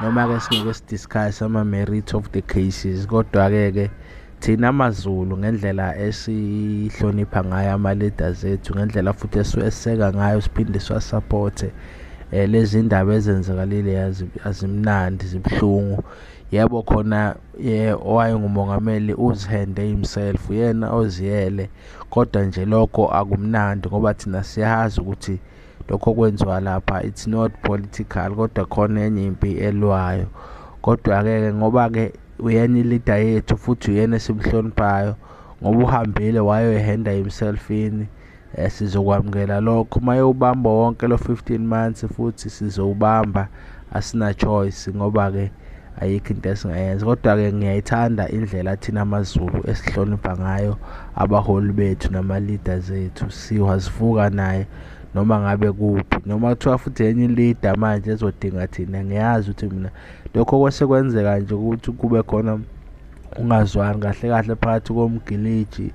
noma-ke singeke sidiscuss ama-merit of the cases kodwa-ke ke thina mazulu ngendlela esihlonipha ngayo ama-leaders ethu ngendlela futhi esiweseka ngayo siphinde siwasapothe um eh, lezi ndaba ezenzakalile azimnandi zibuhlungu yebo khona ye owayengumongameli uzihende himself yena oziyele kodwa nje lokho akumnandi ngoba thina siyazi ukuthi lokho kwenziwa lapha it's not political kodwa khona enye impi elwayo kodwa-ke ke ngoba-ke uyena ilida yethu futhi uyena esimhloniphayo ngoba uhambile wayoyihenda himself ini um eh, sizokwamukela lokho uma yowubamba wonke lo 15 months futhi sizowubamba asina-choice ngoba-ke ayikho into esingayenza kodwa-ke ngiyayithanda indlela thina amazulu esihlonipha ngayo abaholi bethu nama-leaders ethu siwazivuka naye noma ngabe kuphi noma kuthiwa futhi enye ilida manje ezodinga thina ngiyazi ukuthi mina lokho kwese kwenzeka nje ukuthi kube khona ungazwani kahle kahle phakathi komgiliji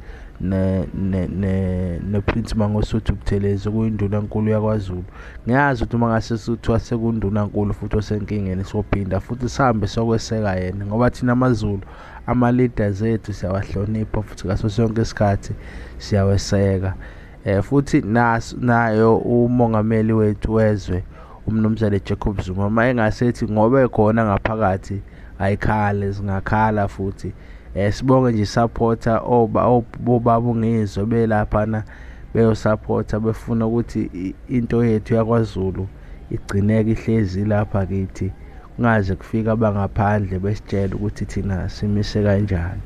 ne-prince mangosuthu buthelezi okuyindunankulu yakwazulu ngiyazi ukuthi uma ngase kuthiwa sekundunankulu futhi osenkingeni sophinda futhi sihambe sokweseka yena ngoba thina amazulu ama-leaders ethu siyawahlonipha futhi ngaso sonke isikhathi siyaweseka Eh futhi naso nayo umongameli wethu wezwe umnumzane Jacob Zuma uma engasethi ngoba ekhona ngaphakathi ayikhale zingakhala futhi eh sibonge nje supporter oba obaba ngizwe belaphana beyosupporta befuna ukuthi into yethu yakwaZulu igcineke ihlezi lapha kithi kungaze kufike abangaphandle besitshela ukuthi thina simise kanjani